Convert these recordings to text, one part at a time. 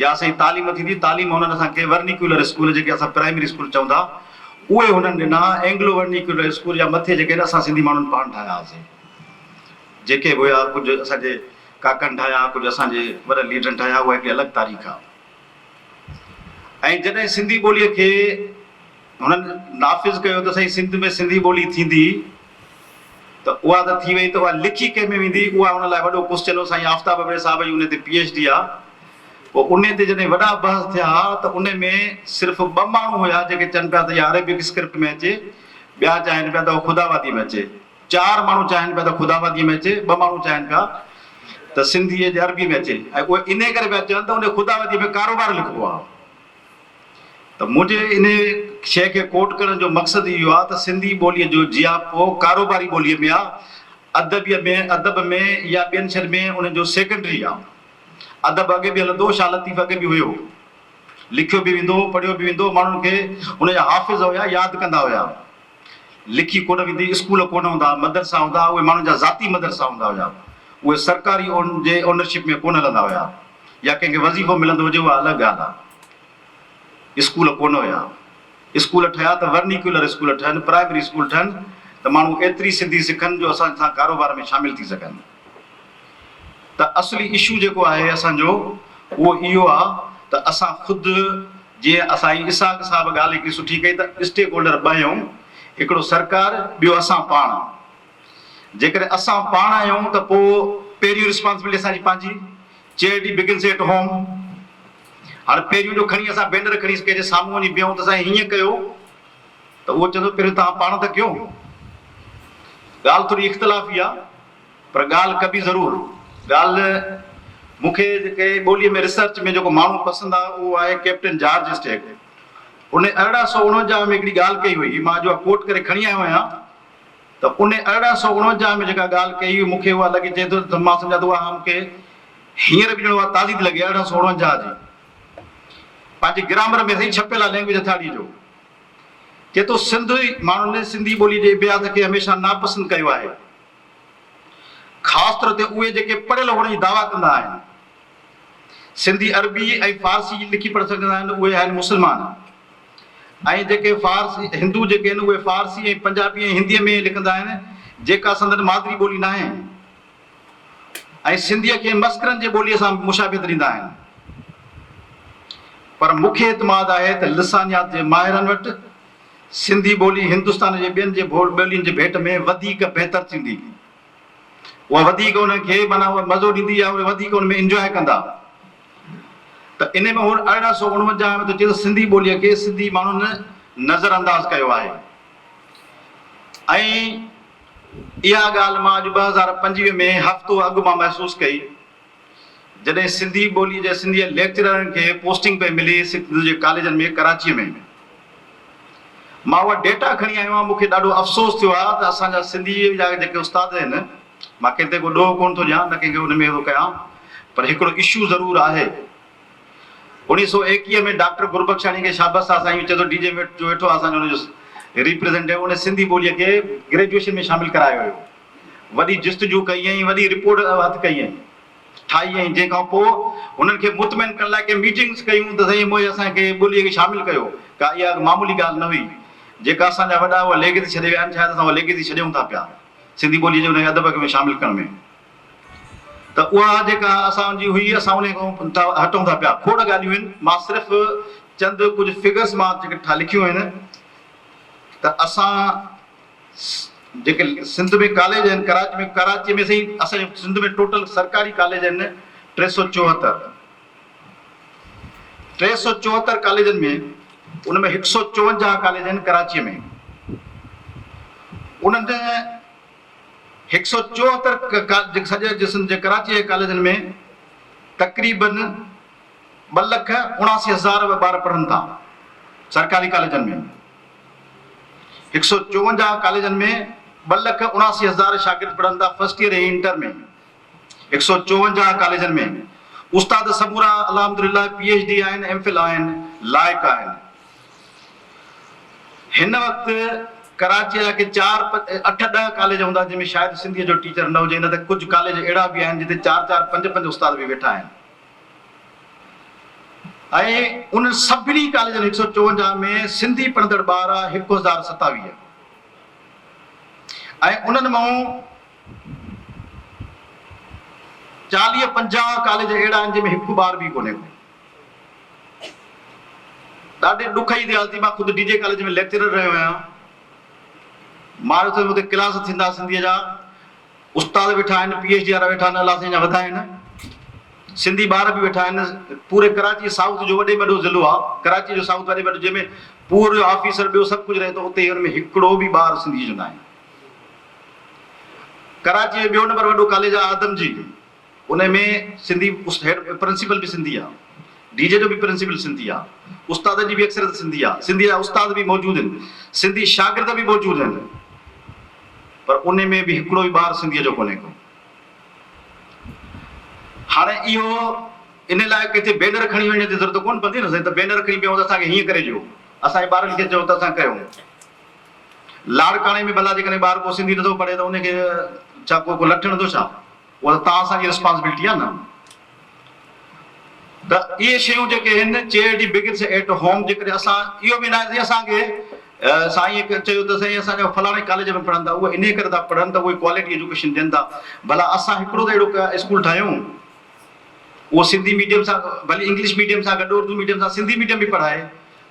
يا سائين تعليم ٿيندي، تعليم هنن اسان کي ورنيڪيولر اسڪول جيڪي اسان پرائمري اسڪول چئون ٿا اهي هنن ڏنا، اينگلو ورنيڪيولر اسڪول يا مٿي جيڪي آهن اسان سنڌي ماڻهن پاڻ ٺاهيا هئاسين، جيڪي به هيا ڪجهه اسان جي ڪاڪن ٺاهيا، ڪجهه اسان جي وڏن ليڊرن ٺاهيا اها هڪڙي الڳ تاريخ آهي. ۽ جڏهن سنڌي ٻوليء کي هنن نافذ ڪيو ته سائين سنڌ ۾ سنڌي ٻولي ٿيندي، ته اها ته ٿي وئي ته اها لکي ڪنهن ۾ ويندي؟ اها ان لاء وڏو قص چلو سائين آفتاب ابڙي صاحب جي ان تي پي ايڇ ڊي آ پوء ان تي جڏهن وڏا بحث ٿيا ها ته ان ۾ صرف ٻه ماڻهو هيا جيڪي چئن پيا ته اها عربڪ اسڪرپٽ ۾ اچي ٻيا چاهين پيا ته اها خداوادي ۾ اچي چار ماڻهو چاهين پيا ته خداوادي ۾ اچي ٻه ماڻهو چاهين پيا ته سنڌي جي عربي ۾ اچي ۽ اهي انهي ڪري پيا چون ته ان خداوادي ۾ ڪاروبار لکبو آ. ته منهنجي انهيء شيء کي ڪوٽ ڪرڻ جو مقصد اهو آهي ته سنڌي ٻوليء جو جياپو ڪاروباري ٻوليء ۾ آهي، ادبيء ۾، ادب ۾ يا ٻين شين ۾ ان جو سيڪنڊري آهي. ادب اڳي به هلندو، شاهه لطيف اڳي به هيو. لکيو به ويندو هو، پڙهيو به ويندو هو، ماڻهن کي هن جا حافظ هيا، ياد ڪندا هيا. لکي ڪونه ويندي، اسڪول ڪونه هوندا، مدرسا هوندا، اهي ماڻهن جا ذاتي مدرسا هوندا هيا، اهي سرڪاري اون جي اونرشپ ۾ ڪونه هلندا هيا يا ڪنهن کي وظيفو ملندو هجي اها الڳ ڳالهه آهي. اسڪول ڪونه هيا، اسڪول ٺهيا ته ورنيڪيولر اسڪول ٺهن، پرائمري اسڪول ٺهن ته ماڻهو ايتري سنڌي سکن جو اسان سان ڪاروبار ۾ شامل ٿي سگهن. ته اصلي اشو جيڪو آهي اسان جو اهو اهو آ ته اسان خود جيئن اسائين اسحاق صاحب ڳالهه هڪڙي سٺي ڪئي ته اسٽيڪ هولڊر ٻه هيون هڪڙو سرڪار ٻيو اسان پاڻ جيڪڏهن اسان پاڻ آهيون ته پو پهريون رسپانسبلٽي اسان جي پنهنجي چيئرٽي بگنس ايٽ هوم هاڻ پهريون جو کڻي اسان بينر کڻي ڪنهن جي سامهون وڃي بيهون ته سائين هيئن ڪيو ته اهو چئي ٿو پهرين توهان پاڻ ته ڪيو. ڳالهه ٿوري اختلافي آ پر ڳالهه ڪبي ضرور. ڳالهه مون کي جيڪي ٻوليء ۾ ريسرچ ۾ جيڪو ماڻهو پسند آ اهو آهي ڪئپٽن جارج اسٽيڪ. ان ارڙهن سؤ اڻونجاهه ۾ هڪڙي ڳالهه ڪئي هئي، مان اڄ اها ڪوٽ ڪري کڻي آيو آهيان ته ان ارڙهن سؤ اڻونجاهه ۾ جيڪا ڳالهه ڪئي هئي مون کي اها لڳي چئي ٿو ته مان سمجهان ٿو اها مون کي هينئر به ڄڻ اها تازي ٿي لڳي ارڙهن سؤ اڻونجاهه جي پنهنجي گرامر ۾ سائين ڇپيل آ لينگويج هٿياڙي جو. چي ٿو سنڌي ماڻهن سنڌي ٻولي جي ابيات کي هميشه ناپسند ڪيو آهي خاص طور تي اهي جيڪي پڙهيل هئڻ جي دعويٰ ڪندا آهن. سنڌي عربي ۽ فارسي جي لکي پڙهي سگهندا آهن اهي آهن مسلمان ۽ جيڪي فارس هندو جيڪي آهن اهي فارسي ۽ پنجابي ۽ هندي ۾ لکندا آهن جيڪا سندن مادري ٻولي ناهي. ۽ سنڌيء کي مسخرن جي ٻوليء سان به مشابهت ڏيندا آهن. پر مون کي اعتماد آهي ته لسانيات جي ماهرن وٽ سنڌي ٻولي هندستان جي ٻين جي ٻولين جي ڀيٽ ۾ وڌيڪ بهتر ٿيندي. اها وڌيڪ انهن کي معنيٰ اها مزو ڏيندي يا اهي وڌيڪ ان ۾ انجواء ڪندا. ته ان ۾ هن ارڙهن سؤ اڻونجاهه ۾ ٿو چئي ته سنڌي ٻوليء کي سنڌي ماڻهن نظرانداز ڪيو آهي ۽ اها ڳالهه مان اڄ ٻه هزار پنجويهه ۾ هفتو اڳ مان محسوس ڪئي، جڏهن سنڌي ٻوليء جي سنڌيء ليڪچررن کي پوسٽنگ پئي ملي سنڌ جي ڪاليجن ۾ ڪراچيء ۾. مان اها ڊيٽا کڻي آيو آهيان، مون کي ڏاڍو افسوس ٿيو آهي ته اسان جا سنڌيء جا جيڪي استاد آهن، مان ڪنهن تي ڪو ڏوهه ڪونه ٿو ڏيان، نه ڪنهن کي ان ۾ ڪيان، پر هڪڙو اشو ضرور آهي. اوڻيهه سؤ ايڪيهه ۾ ڊاڪٽر گربخشاڻي کي شابس آ سائين چئي ٿو ڊي جي جو ويٺو آ اسان جو ان جو ريپريزنٽيو ان سنڌي ٻوليء کي گريجوئيشن ۾ شامل ڪرايو هيو وڏي جستجو ڪئي ۽ وڏي رپورٽ هٿ ڪئي ۽ ٺاهي ۽ جنهن کان پوء هنن کي مطمئن ڪرڻ لاء ڪي ميٽنگس ڪيون ته سائين موهي اسان کي ٻوليء کي شامل ڪيو ڪا اها معمولي ڳالهه نه هئي جيڪا اسان جا وڏا اها ليگيسي ڇڏي ويا آهن شايد اسان اها ليگيسي ڇڏيون ٿا پيا سنڌي ٻوليء جي ان کي ادب کي ۾ شامل ڪرڻ ۾. ته اها جيڪا اسان جي هئي اسان انهي کان هٽون ٿا پيا کوڙ ڳالهيون آهن مان صرف چند ڪجهه فگرس مان جيڪي لکيون آهن ته اسان جيڪي سنڌ ۾ ڪاليج آهن ڪراچي ۾ ڪراچي ۾ سائين اسان جي سنڌ ۾ ٽوٽل سرڪاري ڪاليج آهن ٽي سؤ چوهتر ٽي سؤ چوهتر ڪاليجن ۾ ان ۾ هڪ سؤ چونجاهه ڪاليج آهن ڪراچي ۾ انهن هڪ سئو چوهتر ڪاليج سڄي جسم جي ڪراچي جي ڪاليجن ۾ تقريباً ٻه لک اڻاسي هزار ٻار پڙهن ٿا سرڪاري ڪاليجن ۾ هڪ سئو چوونجاهه ڪاليجن ۾ ٻه لک اڻاسي هزار شاگرد پڙهن ٿا فرسٽ ايئر ۽ انٽر ۾ هڪ سئو چوونجاهه ڪاليجن ۾ استاد سمورا الحمدلله پي ايڇ ڊي آهن ايم فل آهن لائق آهن هن وقت ڪراچي جا ڪي چار اٺ ڏهه ڪاليج هوندا جن ۾ شايد سنڌي جو ٽيچر نه هجي نه ته ڪجهه ڪاليج اهڙا به آهن جتي چار چار پنج پنج استاد به ويٺا آهن ۽ ان سڀني ڪاليجن هڪ سئو چوونجاهه ۾ سنڌي پڙهندڙ ٻار هڪ هزار ستاويهه ۽ انهن مان چاليهه پنجاهه ڪاليج اهڙا آهن جنهن ۾ هڪ ٻار به ڪونهي ڪو. ڏاڍي ڏکئي ريالتي مان خود ڊي جي ڪاليج ۾ ليڪچرر رهيو آهيان. ماريو ٿو ويم اتي ڪلاس ٿيندا سنڌيء جا استاد ويٺا آهن پي ايڇ ڊي وارا ويٺا آهن الله سائين جا وڌائين سنڌي ٻار به ويٺا آهن پوري ڪراچي سائوٿ جو وڏي ۾ وڏو ضلعو آهي ڪراچي جو سائوٿ وڏي ۾ وڏو جنهن ۾ پور جو آفيسر ٻيو سڀ ڪجهه رهي ٿو اتي هن ۾ هڪڙو به ٻار سنڌي جو ناهي. ڪراچي جو ٻيو نمبر وڏو ڪاليج آ آدم جي انهي ۾ سنڌي هيڊ پرنسپل به سنڌي آ ڊي جي جو به پرنسپل سنڌي آ استادن جي به اڪثريت سنڌي آ سنڌي جا استاد به موجود هين سنڌي شاگرد به موجود هين پر انهي ۾ به هڪڙو به ٻار سنڌي جو ڪونهي ڪو هاڻي اهو انهي لاء ڪٿي بينر کڻي وڃڻ جي ضرورت ڪون پوندي نه سائين ته بينر کڻي بيهون ته اسان کي هيئن ڪري ڏيو اسان جي ٻارن کي چئون ته اسان ڪيون لاڙڪاڻي ۾ ڀلا جيڪڏهن ٻار ڪو سنڌي نٿو پڙهي ته ان کي ڇا ڪو ڪو لٺ هڻندو ڇا؟ اها ته توهان اسان جي رسپانسبلٽي آهي نه. ته اهي شيون جيڪي هن چيئرٽي بگنس ايٽ هوم جيڪڏهن اسان اهو به ناهي سائين اسان کي سائين کي چيو ته سائين اسان جا فلاڻي ڪاليج ۾ پڙهن ٿا اهي انهي ڪري ٿا پڙهن ته اهي ڪوالٽي ايجوڪيشن ڏين ٿا ڀلا اسان هڪڙو ته اهڙو اسڪول ٺاهيون اهو سنڌي ميڊيم سان ڀلي انگلش ميڊيم سان گڏ اردو ميڊيم سان سنڌي ميڊيم به پڙهائي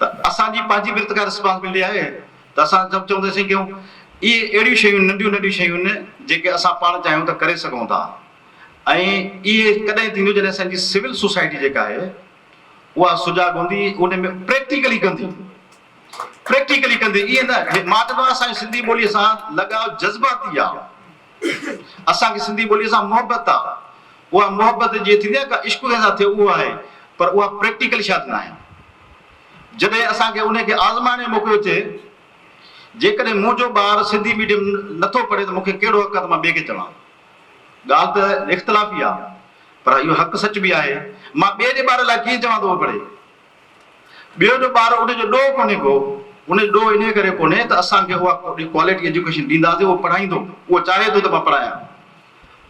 ته اسان جي پنهنجي به ارتقا رسپانسبلٽي آهي ته اسان سڀ چئون ته اسين ڪيون. اهي اهڙيون شيون ننڍيون ننڍيون شيون جيڪي اسان پاڻ چاهيون ته ڪري سگهون ٿا ۽ اهي ڪڏهن ٿينديون جڏهن اسان جي سول سوسائٽي جيڪا آهي اها سجاڳ هوندي ان ۾ پريڪٽيڪلي ڪندي پريڪٽيڪلي ڪندي ايئن نه مان چوندو آهيان اسان جي سنڌي ٻولي سان لڳاء جذباتي آهي. اسان کي سنڌي ٻوليء سان محبت آ، اها محبت جيئن ٿيندي آ ڪا عشق جيسان ٿئي اهو آهي، پر اها پريڪٽيڪل شايد ناهي. جڏهن اسان کي انهيء کي آزمائڻ جو موقعو ٿئي، جيڪڏهن منهنجو ٻار سنڌي ميڊيم نه ٿو پڙهي ته مون کي ڪهڙو حق آ ته مان ٻئي کي چوان. ڳالهه ته اختلافي آ، پر اهو حق سچ به آهي. مان ٻئي جي ٻار لاء ڪيئن چوان ته اهو پڙهي؟ ٻيو جو ٻار ان جو ڏوهه ڪونهي ڪو، ان جو ڏوهه انهيء ڪري ڪونهي ته اسان کي اها ڪوالٽي ايجوڪيشن ڏينداسين، اهو پڙهائيندو، اهو چاهي ٿو ته مان پڙهايان.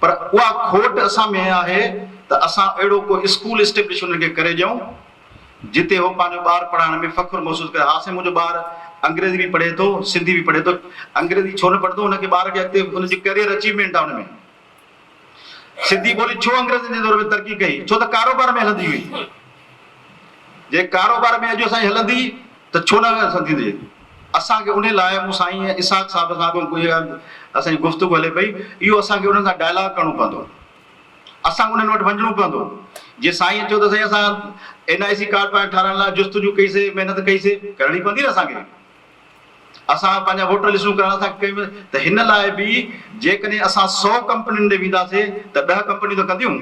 پر اها کوٽ اسان ۾ آهي ته اسان اهڙو ڪو اسڪول اسٽيبلش انهن کي ڪري ڏيئون، جتي هو پنهنجو ٻار پڙهائڻ ۾ فخر محسوس ڪري، ها سائين منهنجو ٻار انگريزي به پڙهي ٿو، سنڌي به پڙهي ٿو، انگريزي ڇو نه پڙهندو، ان کي ٻار کي اڳتي ان جي ڪيريئر اچيومينٽ آهي ان ۾. سنڌي ٻولي ڇو انگريزن جي دور ۾ ترقي ڪئي؟ ڇو ته ڪاروبار ۾ هلندي هئي. جي ڪاروبار ۾ اڄ اسان جي هلندي ته ڇو نه سنڌين جي؟ اسان کي انهي لاء مون سائين اسحاق صاحب سان به ڪجهه اسان جي گفتگو هلي پئي. اهو اسان کي انهن سان ڊائلاگ ڪرڻو پوندو. اسان کي انهن وٽ وڃڻو پوندو. جي سائين چيو ته سائين اسان اين آء سي ڪارڊ پاڻ ٺاهرائڻ لاء جستجو ڪئي سي، محنت ڪئي سي، ڪرڻي پوندي نه اسان کي. اسان پنهنجا ووٽر لسٽون ڪرائڻ اسان کي ڪيو ويندو ته هن لاء به جيڪڏهن اسان سؤ ڪمپنين ڏي وينداسين ته ڏهه ڪمپنيون ته ڪنديون.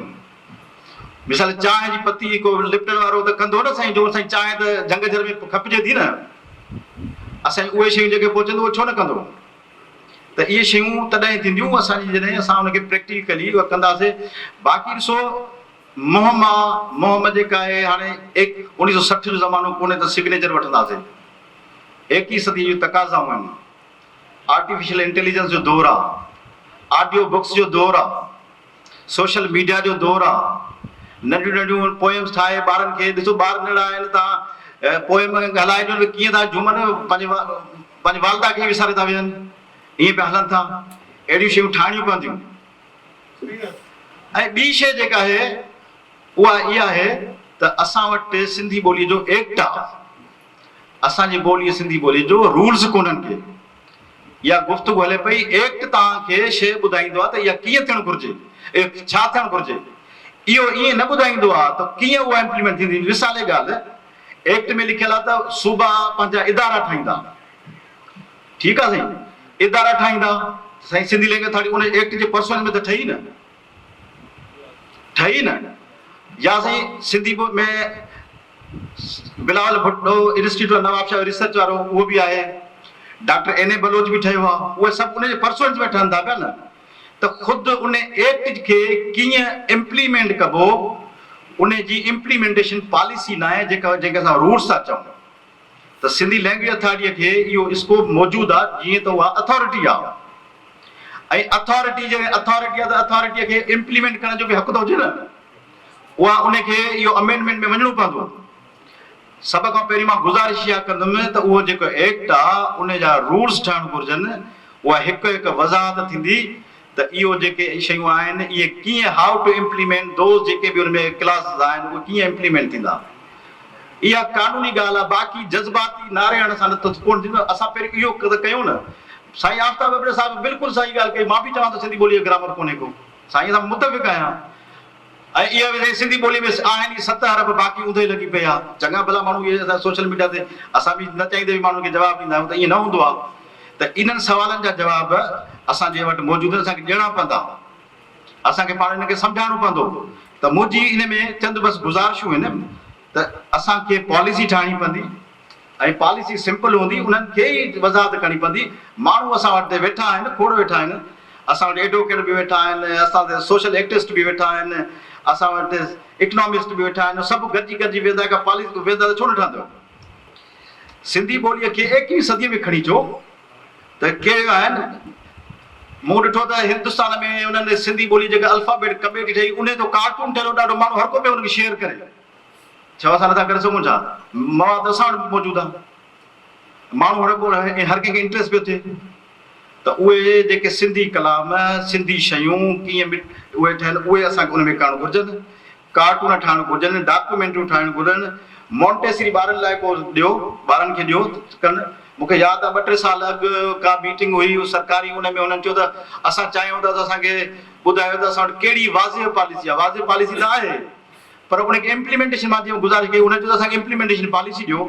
مثال چانهه جي پتي ڪو لپٽن وارو ته ڪندو نه سائين جو سائين چانهه ته جهنگ جهر ۾ کپجي ٿي نه اسان جي اهي شيون جيڪي پهچندو اهو ڇو نه ڪندو ته اهي شيون تڏهن ٿينديون اسان جي جڏهن اسان ان کي پريڪٽيڪلي اهو ڪنداسين باقي ڏسو منهن مان منهن مان جيڪا آهي هاڻي ايڪ اوڻيهه سؤ سٺ جو زمانو ڪونهي ته سگنيچر وٺنداسين. ايڪيهين صديء جون تقاضائون آهن. آرٽيفيشل انٽيليجنس جو دور آ، آڊيو بڪس جو دور آ، سوشل ميڊيا جو دور آ، ننڍيون ننڍيون پوئمس ٺاهي ٻارن کي ڏسو ٻار ننڍڙا آهن تان پوئم هلائي ڏيو ته ڪيئن ٿا جهومن پنهنجي پنهنجي والده کي وساري ٿا ويهن ائين پيا هلن ٿا اهڙيون شيون ٺاهڻيون پونديون ۽ ٻي شيء جيڪا آهي اها اها آهي ته اسان وٽ سنڌي ٻوليء جو ايڪٽ آ اسان جي ٻولي سنڌي ٻولي جو رولز ڪونهن ڪي يا گفتگو هلي پئي ايڪٽ توهان کي شيء ٻڌائيندو آهي ته اها ڪيئن ٿيڻ گهرجي ايڪٽ ڇا ٿيڻ گهرجي اهو ائين نه ٻڌائيندو آهي ته ڪيئن اها امپليمينٽ ٿيندي مثالي ڳالهه ايڪٽ ۾ لکيل آهي ته صوبا پنهنجا ادارا ٺاهيندا ٺيڪ آهي سائين ادارا ٺاهيندا سائين سنڌي لينگويج ٿاڙي ان ايڪٽ جي پرسنل ۾ ته ٺهي نه ٺهي نه يا سائين سنڌي ٻو ۾ بلاول ڀٽو انسٽيٽيوٽ آف نوابشاهه جو ريسرچ وارو اهو به آهي ڊاڪٽر اين اي بلوچ به ٺهيو آهي اهي سڀ ان جي پرسونس ۾ ٺهن ٿا پيا نه ته خود ان ايڪٽ کي ڪيئن امپليمينٽ ڪبو ان جي امپليمينٽيشن پاليسي ناهي جيڪا جيڪا اسان روٽس ٿا چئون ته سنڌي لئنگويج اٿارٽيء کي اهو اسڪوپ موجود آ جيئن ته اها اٿارٽي آ ۽ اٿارٽي جڏهن اٿارٽي آ ته اٿارٽيء کي امپليمينٽ ڪرڻ جو به حق ته هجي نه اها ان کي اهو امينڊمينٽ ۾ وڃڻو پوندو. سڀ کان پهرين مان گذارش اها ڪندم ته اهو جيڪو ايڪٽ آ ان جا رولز ٺهڻ گهرجن اها هڪ هڪ وضاحت ٿيندي ته اهو جيڪي شيون آهن اهي ڪيئن How to Implement Those جيڪي به ان ۾ ڪلاسز آهن اهي ڪيئن Implement ٿيندا. اها قانوني ڳالهه آهي باقي جذباتي نعري هڻڻ سان ته ڪونه ٿيندو اسان پهريون اهو ته ڪيون نه. سائين آفتاب ابڙي صاحب بلڪل صحيح ڳالهه ڪئي مان به چوان ٿو سنڌي ٻولي جو گرامر ڪونهي ڪو سائين سان متفق آهيان ۽ اها وڌي سنڌي ٻولي ۾ آهن ئي ست حرف باقي اونده ئي لڳي پئي آ. چڱا ڀلا ماڻهو اهي اسان سوشل ميڊيا تي اسان به نه چاهيندي به ماڻهن کي جواب ڏيندا آهيون ته ائين نه هوندو آ ته انهن سوالن جا جواب اسان جي وٽ موجود آهن اسان کي ڏيڻا پوندا اسان کي پاڻ انهن کي سمجهائڻو پوندو ته منهنجي ان ۾ چند بس گذارشون هن ته اسان کي پاليسي ٺاهڻي پوندي ۽ پاليسي سمپل هوندي، انهن کي ئي وضاحت ڪرڻي پوندي، ماڻهو اسان وٽ هتي ويٺا آهن، کوڙ ويٺا آهن، اسان وٽ ايڊووڪيٽ به ويٺا آهن، اسان وٽ سوشل ايڪٽسٽ به ويٺا آهن، اسان وٽ اڪنامسٽ به ويٺا آهن، سڀ گڏجي گڏجي ويهندا ڪا پاليسي ويهندا ته ڇو نه ٺهندو؟ سنڌي ٻوليء کي ايڪويهين صديء ۾ کڻي اچو، ته ڪهڙيون آهن؟ مون ڏٺو ته هندستان ۾ انهن ۾ سنڌي ٻولي جيڪا الفابيٽ ڪميٽي ٺهي انهيء جو ڪارٽون ٺهيل هو ڏاڍو ماڻهو هر ڪو پيو ان کي شيئر ڪري ڇو اسان نٿا ڪري سگهون ڇا مواد اسان وٽ به موجود آهي ماڻهو هر ڪو هر ڪنهن کي انٽريسٽ پيو ٿئي ته اهي جيڪي سنڌي ڪلام سنڌي شيون ڪيئن اهي ٺهن اهي اسان کي ان ۾ ڪرڻ گهرجن ڪارٽون ٺاهڻ گهرجن، ڊاڪيومينٽريون ٺاهڻ گهرن، مونٽيسري ٻارن لاء ڪو ڏيو، ٻارن کي ڏيو ته ڪن. مون کي ياد آهي ٻه ٽي سال اڳ ڪا ميٽنگ هئي سرڪاري ان ۾ هنن چيو ته اسان چاهيون ٿا ته اسان کي ٻڌايو ته اسان وٽ ڪهڙي واضح پاليسي آهي، واضح پاليسي ته آهي پر ان کي امپليمينٽيشن مان جيئن گذارش ڪئي هنن چيو ته اسان کي امپليمينٽيشن پاليسي ڏيو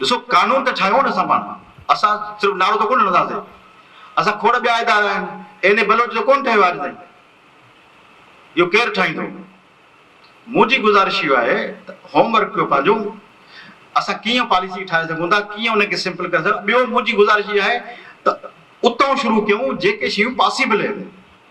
ڏسو قانون ته ٺاهيون نه اسان پاڻ، اسان صرف نعرو ته ڪونه هڻنداسين، اسان کوڙ ٻيا ادارا آهن، اين اي بلوچ ته ڪونه ٺهيو آهي اڄ تائين، اهو ڪير ٺاهيندو؟ منهنجي گذارش اهو آهي ته هوم ورڪ ڪيو پنهنجو، اسان ڪيئن پاليسي ٺاهي سگهون ٿا، ڪيئن ان کي سمپل ڪري سگهون ٿا، ٻيو منهنجي گذارش اها آهي ته اتان شروع ڪيون جيڪي شيون پاسيبل آهن.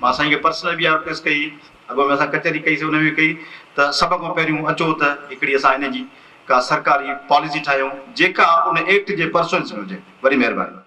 مان سائين کي پرسنل به آرڪوئسٽ ڪئي، اڳوڻي ۾ اسان ڪچهري ڪئي سي ان ۾ ڪئي ته سڀ کان پهريون اچو ته هڪڙي اسان ان جي ڪا سرڪاري پاليسي ٺاهيون جيڪا ان ايڪٽ جي پرسوئنس ۾ هجي. وڏي مهرباني.